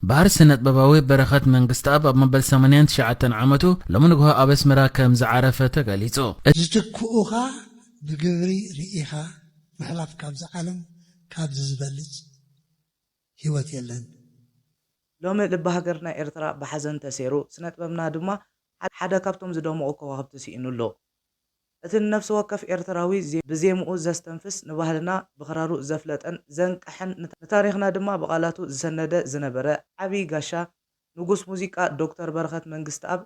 በሃር ስነጥበባዊ በረኸት መንግስትኣብ ኣብ መበል ሰማንያን ትሽዓተን ዓመቱ ሎሚ ንግሆ ኣብ ኣስመራ ከም ዝዓረፈ ተገሊጹ። እቲ። ዝትክኡኻ ብግብሪ ርኢኻ ምሕላፍ ካብዚ ዓለም ካብዚ ዝበልጽ ሂወት የለን። ሎሚ ልቢ ሃገርና ኤርትራ ብሓዘን ተሴሩ፣ ስነጥበብና ድማ ሓደ ካብቶም ዝደመቑ ከዋኽብቲ ስኢኑ ኣሎ። እቲ ንነፍሲ ወከፍ ኤርትራዊ ብዜምኡ ዘስተንፍስ፣ ንባህልና ብክራሩ ዘፍለጠን ዘንቀሐን ንታሪኽና ድማ ብቓላቱ ዝሰነደ ዝነበረ ዓቢ ጋሻ ንጉስ ሙዚቃ ዶክተር በረኸት መንግስትኣብ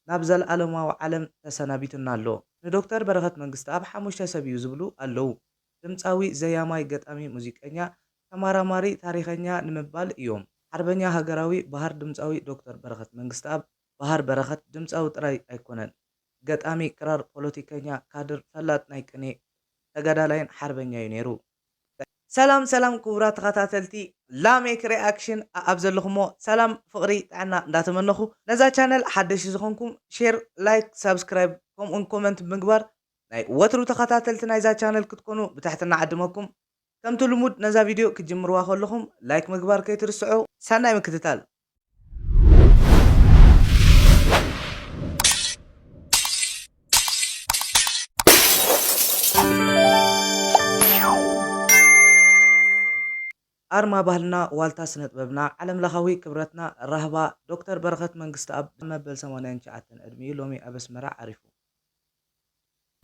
ናብ ዘልኣለማዊ ዓለም ተሰናቢቱና ኣሎ። ንዶክተር በረኸት መንግስትኣብ ሓሙሽተ ሰብ'ዩ ዝብሉ ኣለዉ። ድምጻዊ፣ ዘያማይ፣ ገጣሚ፣ ሙዚቀኛ፣ ተማራማሪ፣ ታሪኸኛ ንምባል እዮም። ሓርበኛ ሃገራዊ በሃር ድምጻዊ ዶክተር በረኸት መንግስትኣብ፣ በሃር በረኸት፣ ድምጻዊ ጥራይ ኣይኮነን። ገጣሚ፣ ክራር፣ ፖለቲከኛ፣ ካድር፣ ፈላጥ ናይ ቅኔ፣ ተጋዳላይን ሓርበኛ'ዩ ነይሩ። ሰላም ሰላም ክቡራት ተኸታተልቲ ላሜክ ሪኣክሽን ኣኣብ ዘለኹሞ ሰላም ፍቕሪ ጥዕና እንዳተመነኹ ነዛ ቻነል ሓደሽቲ ዝኾንኩም ሼር ላይክ ሳብስክራይብ ከምኡውን ኮመንት ብምግባር ናይ ወትሩ ተኸታተልቲ ናይዛ ቻነል ክትኮኑ ብትሕትና እዓድመኩም ከምቲ ልሙድ ነዛ ቪድዮ ክትጅምርዋ ከለኹም ላይክ ምግባር ከይትርስዑ ሰናይ ምክትታል። ኣርማ ባህልና ዋልታ ስነጥበብና ዓለምለኻዊ ክብረትና ራህባ ዶክተር በረኸት መንግስትኣብ መበል ሰማንያን ትሽዓተን ዕድሚኡ ሎሚ ኣብ ኣስመራ ዓሪፉ።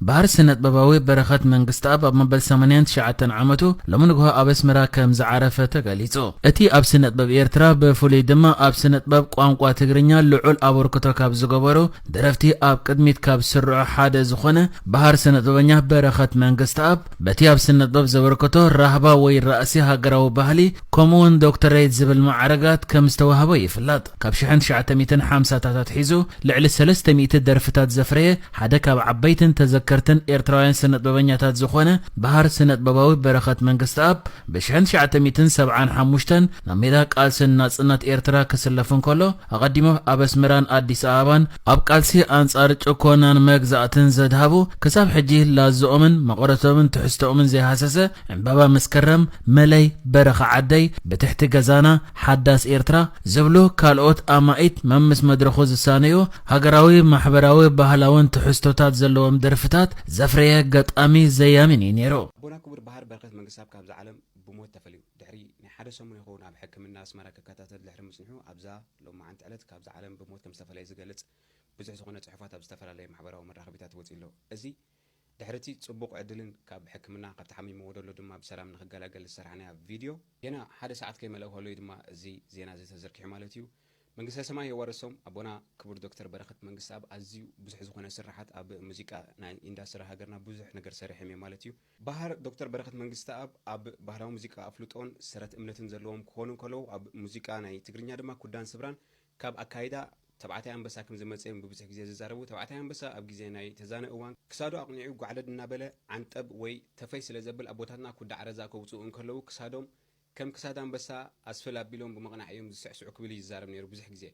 ባር ስነጥበባዊ በረኸት መንግስትኣብ ኣብ መበል ሰማንያን ትሽዓተን ዓመቱ ሎሚ ንግሆ ኣብ ኣስመራ ከም ዝዓረፈ ተገሊጹ። እቲ ኣብ ስነጥበብ ኤርትራ ብፍሉይ ድማ ኣብ ስነጥበብ ቋንቋ ትግርኛ ልዑል ኣበርክቶ ካብ ዝገበሩ ደረፍቲ ኣብ ቅድሚት ካብ ዝስርዑ ሓደ ዝኾነ ባር ስነጥበበኛ በረኸት መንግስትኣብ በቲ ኣብ ስነጥበብ ዘበርክቶ ራህባ ወይ ራእሲ ሃገራዊ ባህሊ ከምኡ'ውን ዶክተረይት ዝብል ማዕርጋት ከም ዝተዋህቦ ይፍለጥ። ካብ ሽሕን ትሽዓተ ሚእትን ሓምሳታት ኣትሒዙ ልዕሊ ሰለስተ ሚእቲ ደርፍታት ዘፍረየ ሓደ ካብ ዓበይትን ተዘከርትን ኤርትራውያን ስነጥበበኛታት ዝኾነ በሃር ስነጥበባዊ በረኸት መንግስትኣብ ብ ሽሕን ትሽዓተ ሚእትን ሰብዓን ሓሙሽተን ናብ ሜዳ ቃልሲ ንናጽነት ኤርትራ ክስለፍ እንከሎ ኣቐዲሙ ኣብ ኣስመራን ኣዲስ ኣበባን ኣብ ቃልሲ ኣንጻር ጭኮናን መግዛእትን ዘድሃቡ ክሳብ ሕጂ ላዝኦምን መቐረቶምን ትሕዝቶኦምን ዘይሃሰሰ ዕምባባ መስከረም መለይ በረኻ ዓደይ ብትሕቲ ገዛና ሓዳስ ኤርትራ ዝብሉ ካልኦት ኣማኢት መምስ መድረኹ ዝሳነዩ ሃገራዊ፣ ማሕበራዊ፣ ባህላውን ትሕዝቶታት ዘለዎም ደርፍታት ዘፍረየ ገጣሚ ዘያሚን እዩ ነይሩ። ኣቦና ክቡር በሃር በረኸት መንግስተኣብ ካብዛ ዓለም ብሞት ተፈልዩ። ድሕሪ ናይ ሓደ ሰሙን ይኸውን ኣብ ሕክምና ኣስመራ ክከታተል ድሕሪ ምጽንሑ ኣብዛ ሎማዓንቲ ዕለት ካብዛ ዓለም ብሞት ከምዝተፈለየ ዝገልጽ ብዙሕ ዝኾነ ጽሑፋት ኣብ ዝተፈላለየ ማሕበራዊ መራኸቢታት ወጺኡ'ሎ። እዚ ድሕሪ እቲ ጽቡቕ ዕድልን ካብ ሕክምና ካብቲ ሓሚምዎ ዘሎ ድማ ብሰላም ንኽገላገል ዝሰራሕናያ ቪድዮ፣ ጌና ሓደ ሰዓት ከይመልኣ ከሎ እዩ ድማ እዚ ዜና እዚ ተዘርጊሑ ማለት እዩ። መንግስተ ሰማይ የዋርሶም ኣቦና ክቡር ዶክተር በረኸት መንግስተኣብ ኣዝዩ ብዙሕ ዝኾነ ስርሓት ኣብ ሙዚቃ ናይ ኢንዳስትሪ ሃገርና ብዙሕ ነገር ሰሪሖም እዮም ማለት እዩ። በሃር ዶክተር በረኸት መንግስተኣብ ኣብ ባህላዊ ሙዚቃ ኣፍልጦን ሰረት እምነትን ዘለዎም ክኾኑ እንከለዉ ኣብ ሙዚቃ ናይ ትግርኛ ድማ ኩዳን ስብራን ካብ ኣካይዳ ተባዕታይ ኣንበሳ ከም ዝመጸ'ዮም ብብዙሕ ግዜ ዝዛረቡ። ተባዕታይ ኣንበሳ ኣብ ግዜ ናይ ተዛነ እዋን ክሳዱ ኣቕኒዑ ጓዕለድ እናበለ ዓንጠብ ወይ ተፈይ ስለ ዘብል ኣቦታትና ኩዳዕ ረዛ ከውጽኡ እንከለዉ ክሳዶም ከም ክሳድ ኣንበሳ ኣስፍል ኣቢሎም ብምቕናዕ እዮም ዝስዕስዑ ክብል እዩ ዝዛረብ ነይሩ ብዙሕ ግዜ።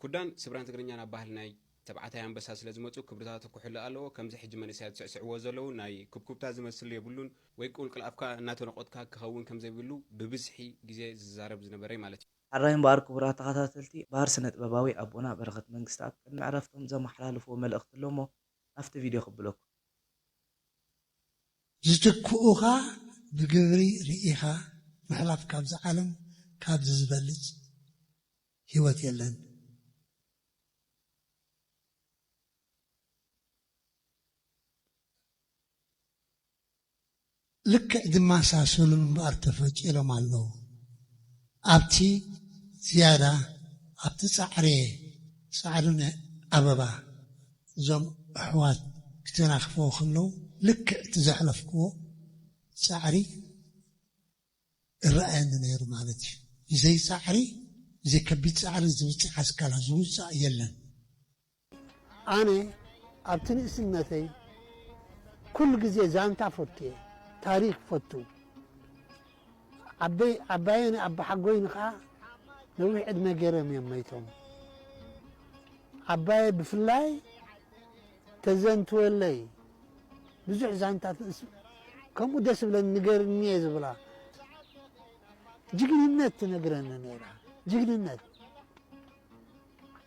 ኩዳን ስብራን ትግርኛን ኣብ ባህሊ ናይ ተባዕታይ ኣንበሳ ስለ ዝመጹ ክብርታቱ ክሕሎ ኣለዎ። ከምዚ ሕጂ መንእሰያት ዝስዕስዕዎ ዘለዉ ናይ ኩብኩብታ ዝመስል የብሉን። ወይ ቁልቁል ኣፍካ እናተነቖትካ ክኸውን ከም ዘይብሉ ብብዝሒ ግዜ ዝዛረብ ዝነበረ'ዩ ማለት'ዩ። ሐራይ እምበኣር ክቡራት ተኸታተልቲ ባህር ስነጥበባዊ ኣቦና በረኸት መንግስትኣብ ቅድሚ ዕረፍቶም ዘመሓላለፍዎ መልእኽቲ ኣሎሞ ናብቲ ቪድዮ ከብለኩም። ዝትክኡኻ ብግብሪ ርኢኻ ምሕላፍ ካብዚ ዓለም ካብዚ ዝበልጽ ሂወት የለን። ልክዕ ዝመሳሰሉን እምበኣር ተፈጢሮም ኣለዉ። ኣብቲ ዝያዳ ኣብቲ ጻዕሬ ጻዕዱን ኣበባ እዞም ኣሕዋት ክተናኽፈዎ ከለዉ ልክዕ እቲ ዘሕለፍክዎ ጻዕሪ እረኣየኒ ነይሩ ማለት እዩ። ብዘይ ጻዕሪ ብዘይ ከቢድ ጻዕሪ ዝብጻሕ ኣስካላ ዝውጻእ የለን። ኣነ ኣብቲ ንእስነተይ ኩሉ ግዜ ዛንታ ፈቱየ ታሪክ ፈቱ ዓበይ ዓባየን ኣባሓጎይን ከኣ ነዊሕ ዕድመ ገይሮም እዮም መይቶም ዓባየ ብፍላይ ተዘንትወለይ ብዙሕ ዛንታትንእስ ከምኡ ደስ ዝብለኒ ንገርኒ እየ ዝብላ ጅግንነት ትነግረኒ ነይራ ጅግንነት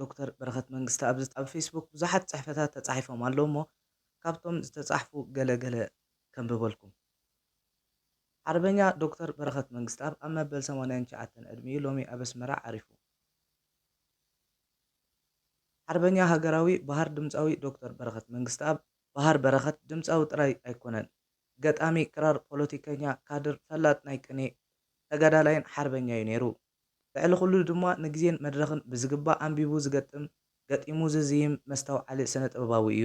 ዶክተር በረኸት መንግስተ ኣብ ኣብ ፌስቡክ ብዙሓት ጽሕፈታት ተጻሒፎም ኣለዉ እሞ ካብቶም ዝተጻሕፉ ገለ ገለ ከንብበልኩም። ሓርበኛ ዶክተር በረኸት መንግስተኣብ ኣብ መበል ሰማንያን ትሽዓተን ዕድሚኡ ሎሚ ኣብ ኣስመራ ዓሪፉ። ሓርበኛ ሃገራዊ በሃር ድምጻዊ ዶክተር በረኸት መንግስተኣብ፣ በሃር በረኸት ድምጻዊ ጥራይ ኣይኮነን፣ ገጣሚ ክራር፣ ፖለቲከኛ፣ ካድር፣ ፈላጥ ናይ ቅኔ፣ ተጋዳላይን ሓርበኛ'ዩ ነይሩ። ልዕሊ ኩሉ ድማ ንግዜን መድረኽን ብዝግባእ ኣንቢቡ ዝገጥም፣ ገጢሙ ዝዝይም መስተውዓሊ ስነ-ጥበባዊ እዩ።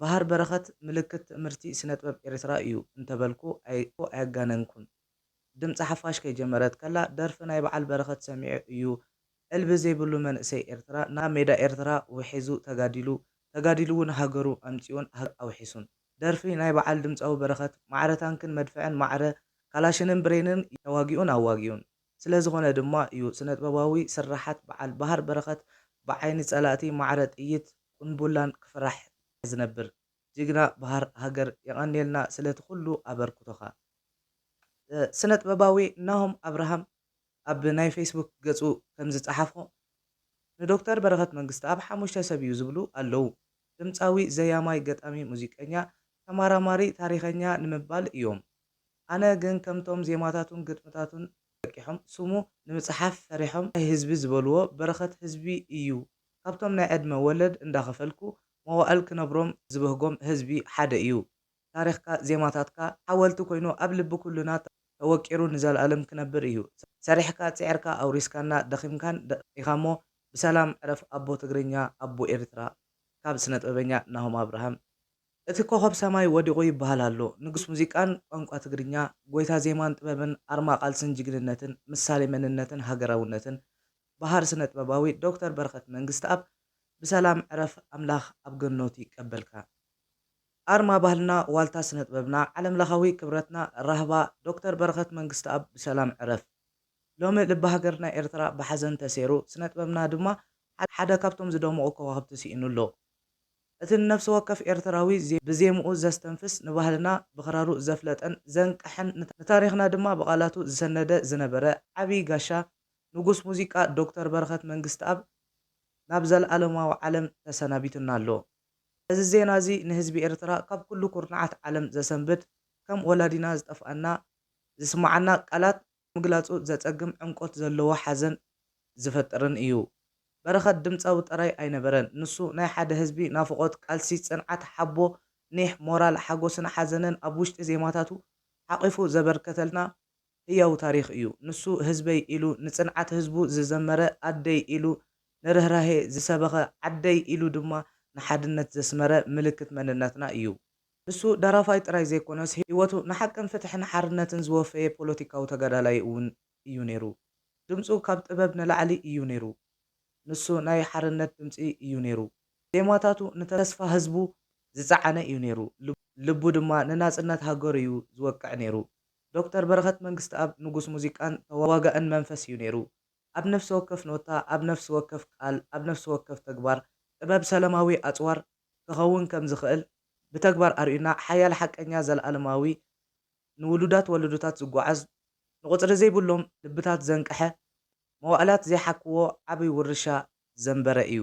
በሃር በረኸት ምልክት ትእምርቲ ስነ-ጥበብ ኤርትራ እዩ እንተበልኩ ኣየጋነንኩን። ድምጺ ሓፋሽ ከይጀመረት ከላ ደርፊ ናይ በዓል በረኸት ሰሚዑ እዩ ዕልቢ ዘይብሉ መንእሰይ ኤርትራ ናብ ሜዳ ኤርትራ ውሒዙ ተጋዲሉ፣ ተጋዲሉ'ውን ሃገሩ ኣምጺኡን ሃገሩ ኣውሒሱን። ደርፊ ናይ በዓል ድምጻዊ በረኸት ማዕረ ታንክን መድፍዕን ማዕረ ካላሽንን ብሬንን ተዋጊኡን ኣዋጊኡን ስለ ዝኾነ ድማ እዩ ስነጥበባዊ ስርሓት በዓል ባህር በረኸት ብዓይኒ ጸላእቲ ማዕረ ጥይት ቁንቡላን ክፍራሕ ዝነብር ጅግና በሃር ሃገር የቐንየልና ስለቲ ኩሉ ኣበርኩቶኻ ስነጥበባዊ ናሆም ኣብርሃም። ኣብ ናይ ፌስቡክ ገጹ ከምዝጸሓፎ፣ ንዶክተር በረኸት መንግስተኣብ ሓሙሽተ ሰብ እዩ ዝብሉ ኣለዉ። ድምጻዊ፣ ዘያማይ፣ ገጣሚ፣ ሙዚቀኛ፣ ተማራማሪ፣ ታሪኸኛ ንምባል እዮም። ኣነ ግን ከምቶም ዜማታቱን ግጥምታቱን ለቂሖም ስሙ ንምጽሓፍ ፈሪሖም ናይ ህዝቢ ዝበልዎ በረኸት ህዝቢ እዩ። ካብቶም ናይ ዕድመ ወለድ እንዳኸፈልኩ መዋእል ክነብሮም ዝበህጎም ህዝቢ ሓደ እዩ። ታሪኽካ ዜማታትካ ሓወልቲ ኮይኑ ኣብ ልቢ ኩሉና ተወቂሩ ንዘልኣለም ክነብር እዩ ሰሪሕካ ጺዕርካ ኣውሪስካና ደኺምካን ደቂካሞ ብሰላም ዕረፍ ኣቦ ትግርኛ ኣቦ ኤርትራ ካብ ስነጥበበኛ ናሆም ኣብርሃም እቲ ኮኾብ ሰማይ ወዲቑ ይበሃል ኣሎ ንጉስ ሙዚቃን ቋንቋ ትግርኛ ጎይታ ዜማን ጥበብን ኣርማ ቃልስን ጅግንነትን ምሳሌ መንነትን ሃገራውነትን በሃር ስነጥበባዊ ዶክተር በረኸት መንግስትኣብ ብሰላም ዕረፍ ኣምላኽ ኣብ ገኖቱ ይቀበልካ። ኣርማ ባህልና ዋልታ ስነጥበብና ዓለም ለኻዊ ክብረትና ራህባ ዶክተር በረኸት መንግስትኣብ ብሰላም ዕረፍ። ሎሚ ልቢ ሃገርና ኤርትራ ብሓዘን ተሴሩ ስነጥበብና ድማ ሓደ ካብቶም ዝደመቑ ከዋኽብቲ ሲኢኑ ኣሎ። እቲ ንነፍሲ ወከፍ ኤርትራዊ ብዜምኡ ዘስተንፍስ ንባህልና ብኽራሩ ዘፍለጠን ዘንቀሐን ንታሪኽና ድማ ብቓላቱ ዝሰነደ ዝነበረ ዓቢ ጋሻ ንጉስ ሙዚቃ ዶክተር በረኸት መንግስትኣብ ናብ ዘልኣለማዊ ዓለም ተሰናቢቱና ኣሎ። እዚ ዜና እዚ ንህዝቢ ኤርትራ ካብ ኩሉ ኩርናዓት ዓለም ዘሰንብድ፣ ከም ወላዲና ዝጠፍኣና ዝስማዓና ቃላት ምግላጹ ዘጸግም ዕምቆት ዘለዎ ሓዘን ዝፈጥርን እዩ። በረኸት ድምጻዊ ጥራይ ኣይነበረን፣ ንሱ ናይ ሓደ ህዝቢ ናፍቖት፣ ቃልሲ፣ ጽንዓት፣ ሓቦ፣ ኒሕ፣ ሞራል፣ ሓጎስን ሓዘንን ኣብ ውሽጢ ዜማታቱ ሓቚፉ ዘበርከተልና፣ ህያው ታሪኽ እዩ ንሱ ህዝበይ ኢሉ ንጽንዓት ህዝቡ ዝዘመረ ኣደይ ኢሉ ንርህራሄ ዝሰበኸ ዓደይ ኢሉ ድማ ንሓድነት ዘስመረ ምልክት መንነትና እዩ ንሱ ደራፋይ ጥራይ ዘይኮነስ ህይወቱ ንሓቅን ፍትሕን ሓርነትን ዝወፈየ ፖለቲካዊ ተጋዳላይ እውን እዩ ነይሩ ድምጹ ካብ ጥበብ ንላዕሊ እዩ ነይሩ ንሱ ናይ ሓርነት ድምጺ እዩ ነይሩ ዜማታቱ ንተስፋ ህዝቡ ዝጸዓነ እዩ ነይሩ ልቡ ድማ ንናጽነት ሃገሩ እዩ ዝወቅዕ ነይሩ ዶክተር በረኸት መንግስትኣብ ንጉስ ሙዚቃን ተዋጋእን መንፈስ እዩ ነይሩ። ኣብ ነፍሲ ወከፍ ኖታ፣ ኣብ ነፍሲ ወከፍ ቃል፣ ኣብ ነፍሲ ወከፍ ተግባር፣ ጥበብ ሰለማዊ ኣጽዋር ክኸውን ከም ዝኽእል ብተግባር ኣርእዩና፣ ሓያል ሓቀኛ ዘልኣለማዊ ንውሉዳት ወለዶታት ዝጓዓዝ ንቑጽሪ ዘይብሎም ልብታት ዘንቀሐ መዋእላት ዘይሓኩዎ ዓቢ ውርሻ ዘንበረ እዩ።